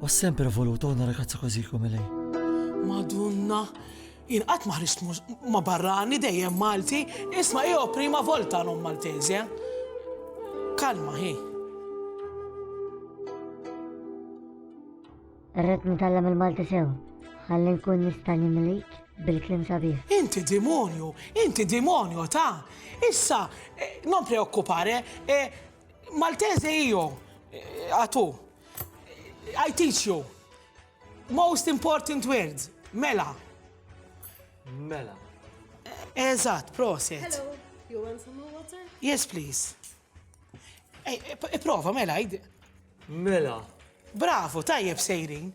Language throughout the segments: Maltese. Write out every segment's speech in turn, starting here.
Ho sempre voluto una ragazza così come lei. Madonna, jien qatt ma ħriġt ma barrani dejjem Malti, isma' jew prima volta non Maltese. Kalma hi. Irrid nitgħallem il-Malti sew, ħalli nkun nista' nimlik bil-klim sabiħ. Inti demonju, inti demonju ta' issa eh, non preoccupare, eh, Maltese io, a tu. I teach you. Most important words. Mela. Mela. Eżatt, proset. Hello, you want some more water? Yes, please. Prova, mela, id. Mela. Bravo, tajjeb sejrin.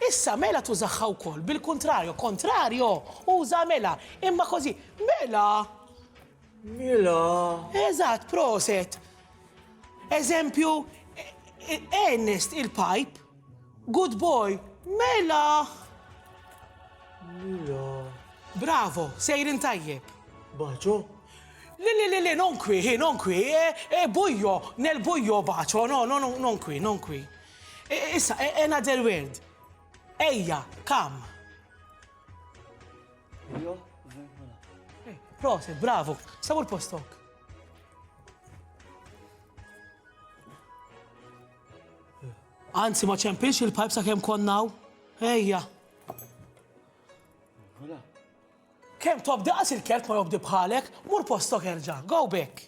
Issa mela tużaħħa wkoll bil-kontrarju, kontrarju uża mela, imma kozi, mela Mela. Eżatt, proset. Eżempju, Ernest il-pajp, good boy, mela. Mela. Bravo, sejrin tajjeb. Baċo? Le, le, le, le, non qui, eh, non qui, eh, eh, bujo, nel bujo bacio, no, no, no, non qui, non qui. Issa, another word. Ejja, kam. Jo, eh, Proset, bravo, sabu l-postok. Anzi, ma ċempilx il-pajp sa' kem konnaw. Ejja. Kem tobdi għas il-kert ma jobdi bħalek, mur postok erġa, go back.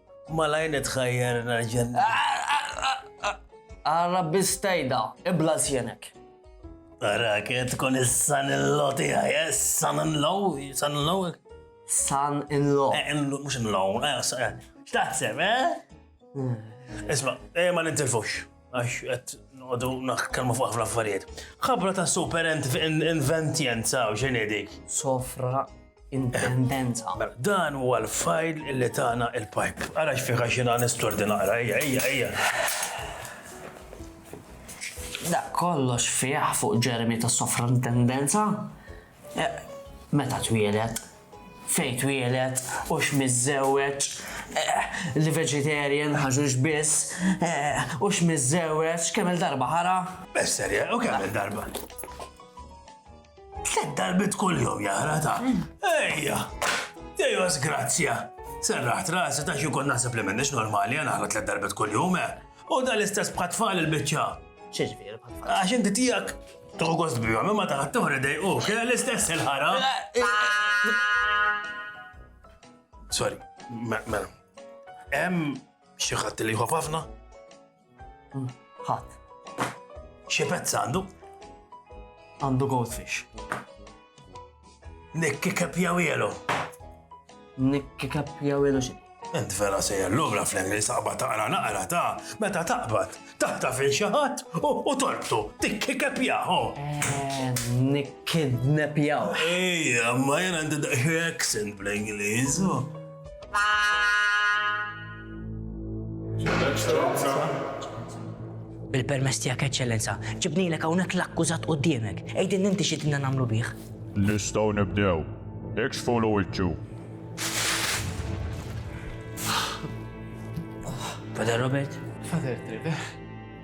Malajr nitħajjar narġen. Għarra bistajda, ibla zjenek. Għarra, kiet tkun is-san il-law tijaj, eh, san il-law, san il-law. San il-law. Eh, mux il-law, eh, xtaħseb, eh? Hmm. Isma, eh, ma nintilfux. għax għet għodu naħkalmu fuq ħafna affarijiet. Ħabra ta' super inventjenza u ġenedik. Sofra intendenza. Mela, dan huwa l-fajl li tana il-pipe. Ara xfiħa xina nistordi naqra, ejja, ejja, ejja. Da kollox fiħ fuq ġermi ta' sofra intendenza. Eh, meta twielet, Fejn twieled, hux miżżewweġ, li vegetarian, ħaxux biss, hux miżżewweġ, kemm-il darba ħara? Esther, U kemm-il darba? Tliet darbiet kuljum jaqra ta'. Ejja! Dejwa żgrazzja! Serraħt rasi ta' xi jkun naħseb li m'iniex normali, jien naħra tliet darbiet kuljum, eh! U dan l-istess bħat-tfal il-biċċa. X'ġifieri bħat-tfal? Għax inti tiegħek tuħu gost bihom, imma taħat toħra dejqu, kien l-istess il-ħara. Sorry, mela. Hemm xi ħadd li jħof ħafna? Hmm, ħadd. Xi pezz għandu? Għandu goldfish. Nikki Kepjawilo. Nikki Kepjawilo xi? Ent vera se jellum la fl li saqba taqra naqra ta' meta taqbad taħta fil xi ħadd u torbtu tikki kepjaħu. Eh, Nikkidnepjaw. Ejja, ma jena għandi daqsxi accent bl-Ingliż. Bil-permess tiegħek eċċellenza, ġibnilek hawnhekk l-akkużat quddiemek. Għidin inti xi dinna nagħmlu bih. Nistgħu nibdew. Ikxfu l wiċċu. Father Robert? Father Trevor.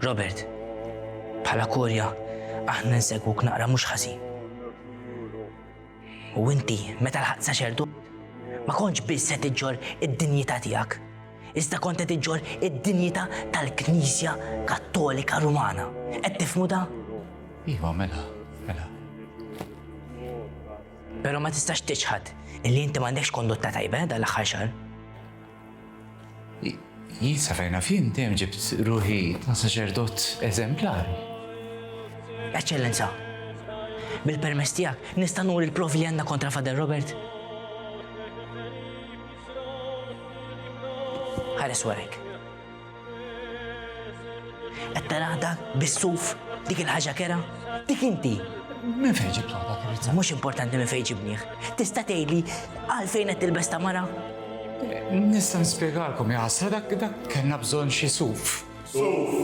Robert, bħala korja, aħna nsegwuk naqra mhux ħażin. U inti, meta l-ħadd saċerdu, ma kontx biss se tiġġor id-dinjità tiegħek, iżda kont qed iġġor id-dinjità tal-Knisja Kattolika Rumana. Qed tifmu da? Iva, mela, mela. Però ma tistax tiċħad illi inti m'għandekx kondotta tajba eh, dal-aħħar xahar. Jien sa fejn naf jien dejjem ġibt ruħi ta' saċerdot eżemplari. Eċċellenza, bil-permess tiegħek nista' nuri l-provi li għandna kontra Fader Robert? Ħares warek. Qed taraħ dak bis-suf, dik il-ħaġa kera, dik inti. Min fejn ġibt waħda krizza? Mhux importanti min fejn ġibnieh. Tista' tgħidli għalfejn qed tilbes ta' mara? Nista' nispjegalkom ja ħasra dak dak kellna bżonn xi suf. Suf!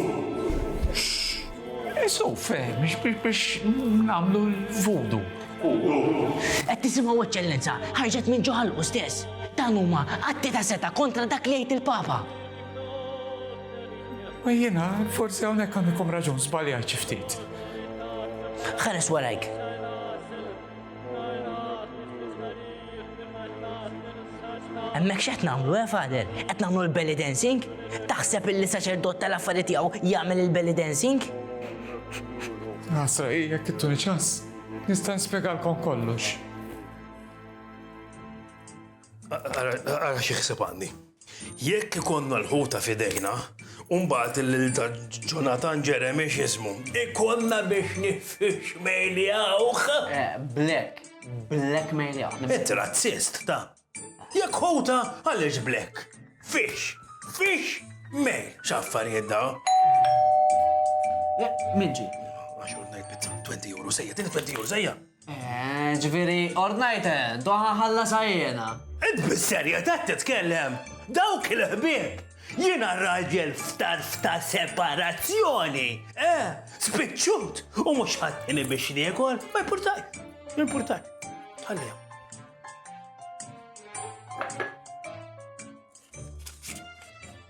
Eh, suf, eh, biex nagħmlu l-vudu. Qed tisimgħu eċċellenza, ħarġet minn ġo ħalqu stess. Dan huma atti ta' seta kontra dak li jgħid il-Papa. Ma jiena, forsi hawnhekk għandikom raġun żbaljajt xi ftit. Ħares warajk. Hemmhekk x'qed nagħmlu, eh, Fader? Qed nagħmlu l-belly dancing? Taħseb illi saċerdot tal-affarijiet tiegħu jagħmel il-belly dancing? Għasra, jekk ittuni ċans, nista' nispjegalkom kollox. Għara xi ħseb għandi. Jekk ikollna l-ħuta f'idejna, u mbagħad lil ta' Jonathan Jeremy x'ismu, ikollna biex nifixmejljawh! Black. Blackmejljawh. Int razzist, ta'. Jekk ħuta, għaliex black? Fix. Fix. Mejl. X'affarijiet dawn? Min ġie? Għax hu ngħid bit-20 euro żejjed, 20 euro żejjed! Eeh, ġifieri ordnajt eh, doħa ħallasha jiena. Int bis-serjetà titkellem? Dawk il-ħbieb! Jiena raġel f'tarf ta' separazzjoni! Eh, spiċċut u mhux ħaddini biex niekol, ma jpurtaj, jpurtaj. Ħallihom.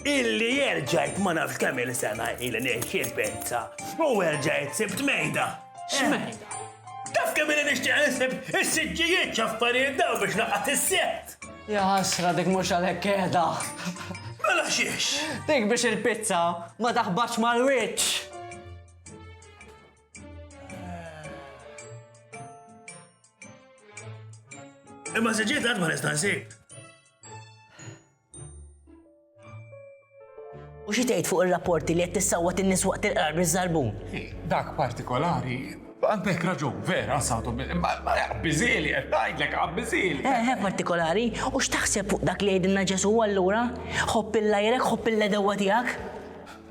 Illi erġajt ma nafx kemm il-sena ili nixxi pizza u erġajt sibt mejda. X'mejda? Taf kemm ili nixtieq insib is-siġġijiet x'affarijiet dawn biex naqgħad is-sett! Ja ħasra dik mhux għalhekk qiegħda. Mela xiex? Dik biex il-pizza ma taħbatx mal-wiċċ! Imma siġġijiet għad ma nista' nsib. U xi tgħid fuq ir-rapporti li qed tissawwat in-nies waqt il-qrar biż-żarbun? Dak partikolari Għandek raġun, vera, sawtu, bizzili, qed tgħidlek bizzili. Eh, eh, partikolari, u x'taħseb fuq dak li jgħidilna Ġesu allura? Ħobb il-lajrek, ħobb il-ledewa tiegħek.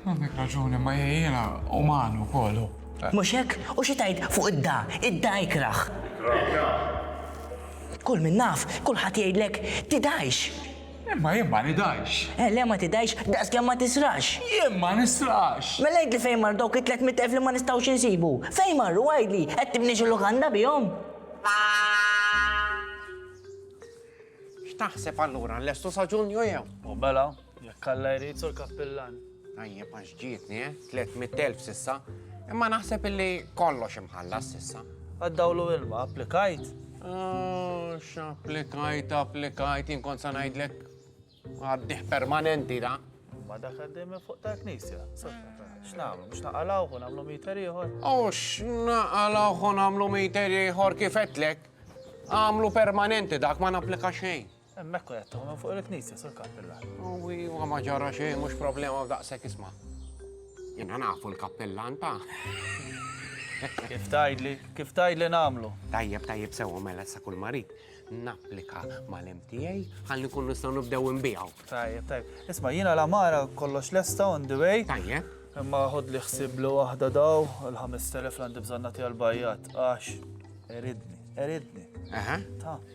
Għandek raġuni, ma jiena uman ukoll hu. Mhux hekk? U xi tgħid fuq id-da? Id-da ikrah. Ikrah. Kull min naf, kulħadd jgħidlek, tidajx! Imma jien ma nidajx. Eh, le ma tidajx, daqskemm ma tisrax. Jien ma nisrax! Mela għidli fejn mar dawk it-tliet mitt elf li ma nistgħux insibu? Fejn marru għidli? Qed tibni xi lukanda bihom? X'taħseb allura, nlestu sa Ġunju jew? U mela? Jekk Alla jrid, Sur Kappillan. Tajjeb għax ġietni, eh? 300,000 sissa. Imma naħseb illi kollox imħallas sissa. Għaddawlu ilma, applikajt? Ah, x'applikajt, applikajt, jien kont sa ngħidlek għaddih permanenti da. Ma dak għaddej minn fuq ta' knisja. X'nagħmlu biex naqalgħu u nagħmlu meter ieħor? U x'naqalgħu u nagħmlu meter ieħor kif qedlek? Għamlu permanenti dak ma napplika xejn. Hemmhekk kun qed tagħmlu fuq il-knisja, Sur Kappillan. Uwi, huwa ma ġara xejn, mhux problema u daqshekk isma'. Jiena nafu l-kappillan ta'. Kif tgħidli, kif tgħidli nagħmlu? Tajjeb, tajjeb sewwa mela sa kull marid napplika mal-MTA ħalli nkunu nistgħu nibdew inbiegħu. Tajjeb, tajjeb. Isma' jiena la mara kollox lesta on the way. Tajjeb. Imma ħod li ħsib li waħda daw il-5000 l-għandi bżonnati għal-bajjat, għax eridni, eridni. Aha. Ta'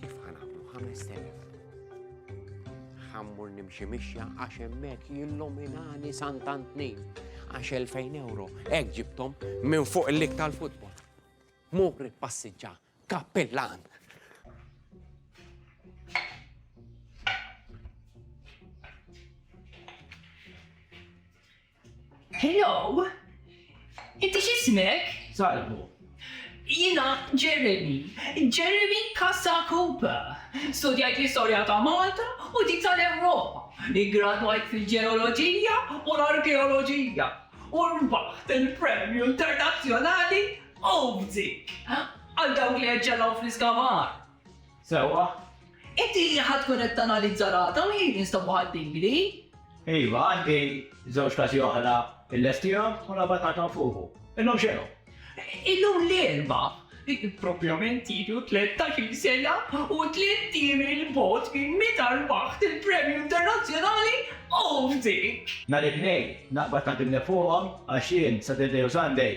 Kif ħanamlu 5000? Ħammur nimxi mixja għax hemmhekk jilluminani Sant'Antni għax 2000 euro hekk ġibtom minn fuq il-lik tal-futbol. Muri passiġġa kappillan. Hello! Inti x'ismek? Salvu. Jiena Jeremy, Jeremy Casacupa. Studjajt l-istorja ta' Malta u dik tal-Ewropa. Iggradwajt fil-ġeoloġija u l-arkeoloġija u rbaħt il-Premju Internazzjonali Obzig għal dawk li eċċellaw fl-iskavar. Sewwa. Inti li ħa tkun qed tanalizza rata u jien instabha ħaddingli. Iva, għandi żewġ każi oħra illestihom u l-aħbar tagħthom fuqu. Illum x'inhu? Illum l-Erbgħa. Propjament ilu tlettax-il sena u tliet ijiem 'il bogħod minn meta rbaħt il-Premju Internazzjonali Optic! Nhar it-Tnejn, l-aħbar tgħaddimni fuqhom għax jien, Saturday u Sunday,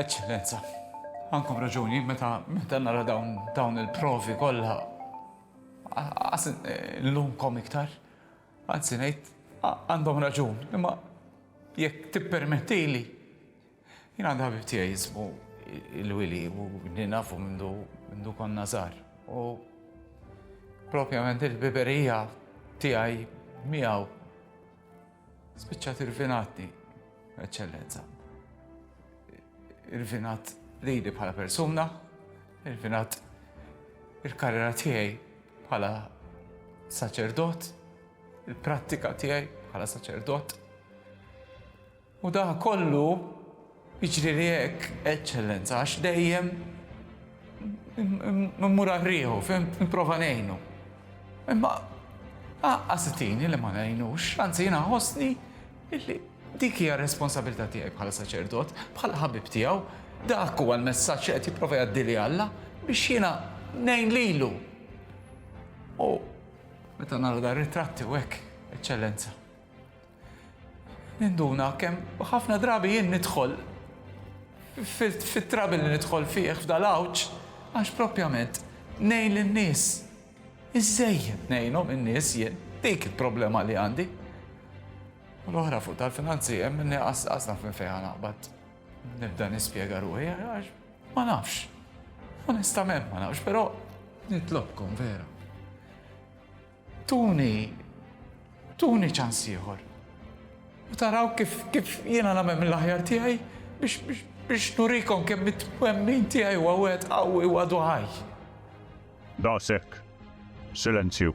Eċċellenza, għandkom raġuni meta meta nara dawn dawn il-provi kollha għas eh, l-lumkom iktar. Anzi ngħid għandhom raġun, imma jekk tippermettili jien għandha ħabib tiegħi jismu il-wili u ninafu mindu mindu konna żgħar. U propjament il-biberija tiegħi miegħu Spiċċat irvinatni, Eċċellenza. Irvinat lili bħala persuna, irvinat il-karriera tiegħi bħala saċerdot, il-prattika tiegħi bħala saċerdot. U da kollu Jiġrili hekk, Eċċellenza, għax dejjem immur għal riħu, fhimt, nipprova ngħinu. Imma qassitini li ma ngħinux, anzi jiena nħossni illi dik hija r-responsabilità tiegħi bħala saċerdot, bħala ħabib tiegħu, dak huwa l-messaġġ li qed jipprova jgħaddili Alla biex jiena ngħin lilu. U meta nara dar ritratti u hekk, Eċċellenza. Ninduna kemm ħafna drabi jien nidħol fit-trouble li nidħol fih f'dal-għawġ għax propjament ngħin lin-nies. Iżżejjed ngħinhom in-nies jien, dik il-problema li għandi. U l-oħra fuq tal-finanzi hemm inni qas naf minn fejn naqbad. Nibda nispjega ruħi għax ma nafx. Onestament ma nafx, però nitlobkom vera. Tuni, tuni ċans ieħor. U taraw kif kif jiena nagħmel mill-aħjar tiegħi biex biex nurikom kemm it-twemmin tiegħi huwa wieħed qawwi u għadu ħaj. Daqshekk. Silenzju.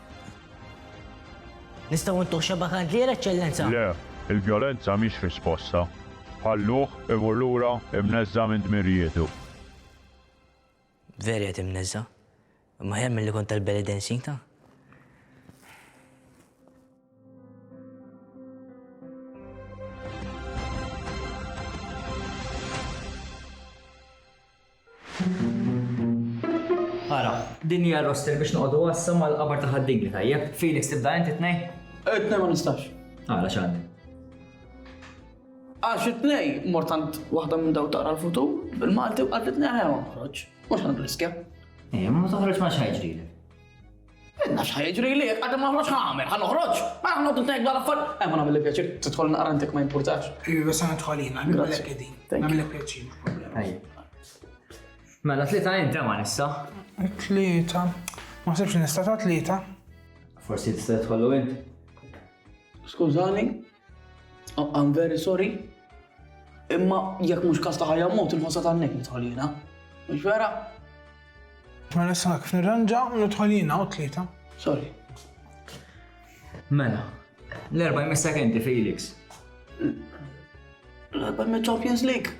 Nistgħu intuh xebgħa kandlier, Eċċellenza? Le, il-vjolenza mhix risposta. Ħalluh imur lura imneżża' minn dmirijietu. Veru qiegħed imneżża'. Imma aħjar milli kont tal-belly dancing ta'. Ara, din hija roster biex noqogħdu għassa mal-qabar ta' ħaddini tajjeb. Felix tibda inti tnej? Tnej ma nistax. Ara x'għandi. Għax it-tnej mortant waħda minn daw tara l-futur bil-Malti u għaddi tnej ħajja ma nħroġ. Mhux għandu riskja. Eh, ma toħroġ ma xħajġri. Jien naf x'ħa jiġrili jekk qatt ma noħroġ ħa nagħmel, ħa noħroġ. Ma noqgħod intajjeb dwar affarijiet. Ejma nagħmel pjaċir tidħol naqra intek ma jimpurtax. Iva se nidħol jien, nagħmilek qegħdin. Nagħmilek pjaċir mhux problema. Mela tlieta int ma nissa. Tlieta. Ma sibx nista' ta' tlieta. Forsi tista' tidħollu int. Skużani, I'm very sorry. Imma jekk mhux kas ta' ħajja mod il-ħossa tan-nek nidħolina. Mhux vera? Ma nista' kif nirranġa nidħolina u tlieta. Sorry. Mela, l-erba' jmiss sekendi Felix. L-erba' jmiss Champions League.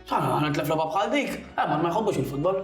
Ħana tlef laba bħal dik, eh, ma jħobbux il-futbol.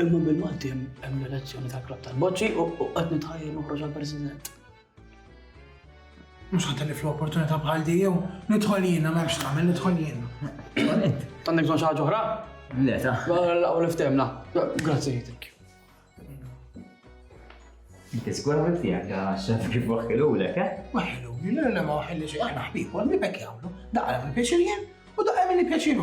Imma bil-Malti hemm l-elezzjoni tal-Klabb tal-Boċċi u qed nitħajjel noħroġ għall-President. Mhux ħadd li fl-opportunità bħal di jew nidħol jiena m'hemmx tagħmel nidħol jiena. Għandek bżonn xi ħaġa oħra? Le ta. Laqgħu niftemna. Grazzi jitek. Inti żgur għamil tiegħek għax xaf kif waħħilulek, eh? Waħħiluli, le ma waħħilli xi aħna ħbib, għal nibek jagħmlu, daqqa mill-pjaċir jien u daqqa mill-pjaċir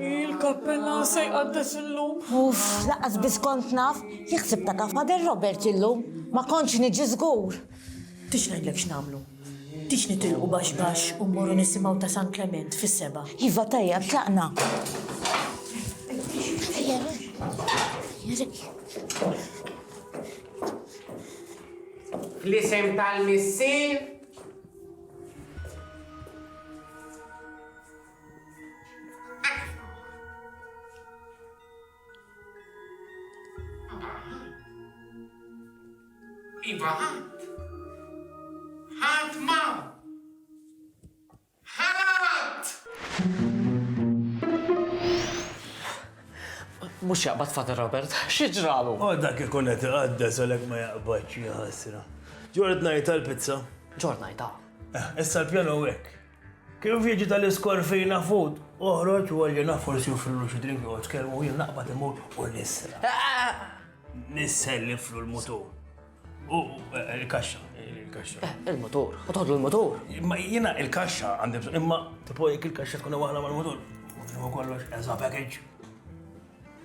Il-kappella se jqaddes illum. Uff, laqas biss kont naf, jaħseb ta' kaf Father Robert illum, ma kontx niġi żgur. Tix ngħidlek x'nagħmlu. Tix nitilqu baxx baxx u mmorru nisimgħu ta' San Klement fis-seba'. Iva tajjeb, tlaqna. Ejja, ejja. Fl-isem tal-Missier, Iva, ħadd ma. Ħadd! Mhux jaqbad Father Robert? Xi ġralu? O dak ikun qed iqaddes għalhekk ma jaqbadx, ja ħasra. Ġort ngħidha l-pizza? Ġort ngħidha. Eh, issa l-pjanu hu hekk. Kif jiġi tal-iskorfina fut, oħroġ u għalli naf forsi joffrillu xi drink joqgħod kelmu jien naqbad imur u nisra. Eh, eh, Nisselliflu l-mutur. U il-kaxxa, il-kaxxa. Eh, il-motor, u toħdu il-motor. Ma jiena il-kaxxa għandi bżonn, imma tipo jekk il-kaxxa tkun waħda mal-motor, ma kollox as a package.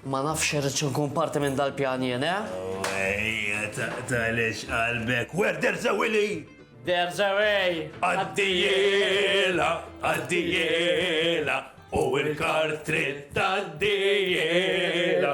Ma nafx irrid nkun parti minn dal-pjan jien, eh? Ejja, taqtalex qalbek, where there's a willy! There's a way! Għaddijela, għaddijela, u il-kar trid taddijela.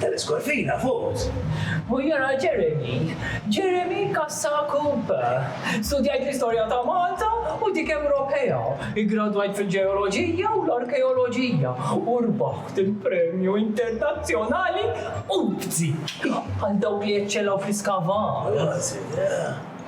Teles Corvina, vot. Hu jara Jeremy, Jeremy Cassa Cooper. Studjajt l-istorja ta' Malta u dik Ewropea. Iggradwajt fil-ġeoloġija u l-arkeoloġija u rbaħt il-Premju Internazzjonali Ubzi għal dawk li eċċellaw fl-iskavar.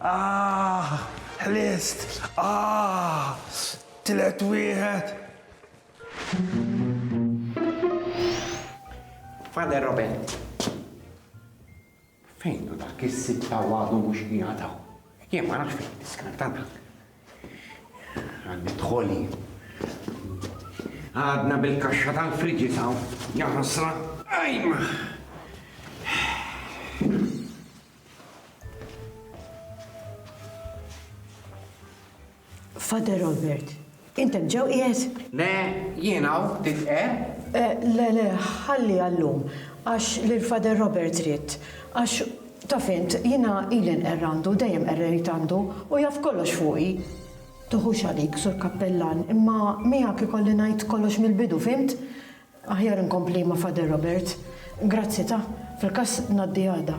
Aah! Ħlist! Aah! Tliet wieħed! Father Robert, fejn hu dak is-sitta u għadu mhux qiegħed hawn? Jien ma nafx fejn niskartana. Għandi dħoli. Għadna bil-kaxxa tal-friġi taw, jaħasra, ajma! Father Robert, int hemm ġew qiegħed? Le, jien hawn, tifhem? Eh, le, le, ħalli għallum, għax lil Father Robert ridt, għax taf int, jiena ili nqerr għandu, dejjem qerrejt għandu, u jaf kollox fuqi. Tuħux għalik, sur kappellan, imma miegħek ikolli ngħid kollox mill-bidu, fimt? Aħjar inkompli ma' Father Robert. Grazzi ta', fil-każ ngħaddi għada.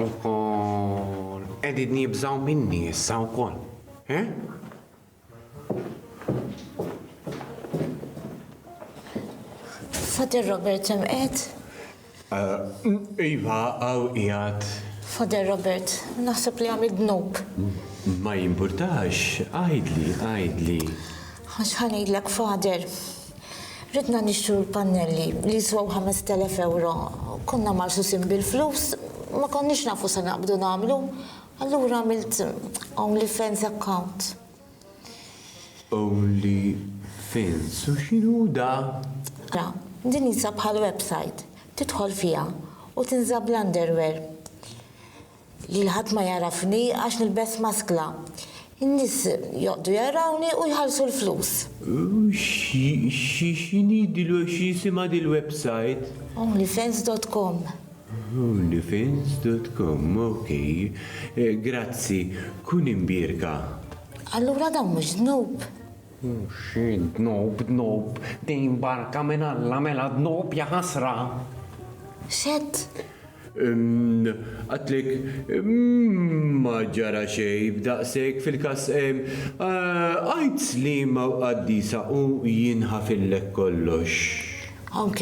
Ukoll qegħdin jibżgħu minni issa wkoll. Eh? Father Robert hemm qed? Iva, hawn qiegħed. Father Robert, naħseb li għamilt dnub. Ma jimpurtax, għidli, għidli. Għax ħa ngħidlek Father. Ridna nixtru l-pannelli li jiswew ħamest elef ewro. Konna magħsusin bil-flus, ma konniex nafu se naqbdu nagħmlu. Allura għamilt only fans account. OnlyFins u x'inhu hu da? Ara, din qisha bħal website. Tidħol fiha u tinża bl-underwear. Lil ħadd ma jagħrafni għax nilbes maskla. In-nies joqgħdu jarawni u jħallsu l-flus. U x'inhi dil-website? OnlyFans dot com. Onlyfins dot com ok grazzi kun imbierka. Allura dawn mhux dnub? Xi dnub dnub din barka minn Alla mela dnub jaħasra. X'għedt? Umm għadtlek ma ġara xejn b'daqshekk fil-każ għid liema qaddisa u jinħafillek kollox. Ok.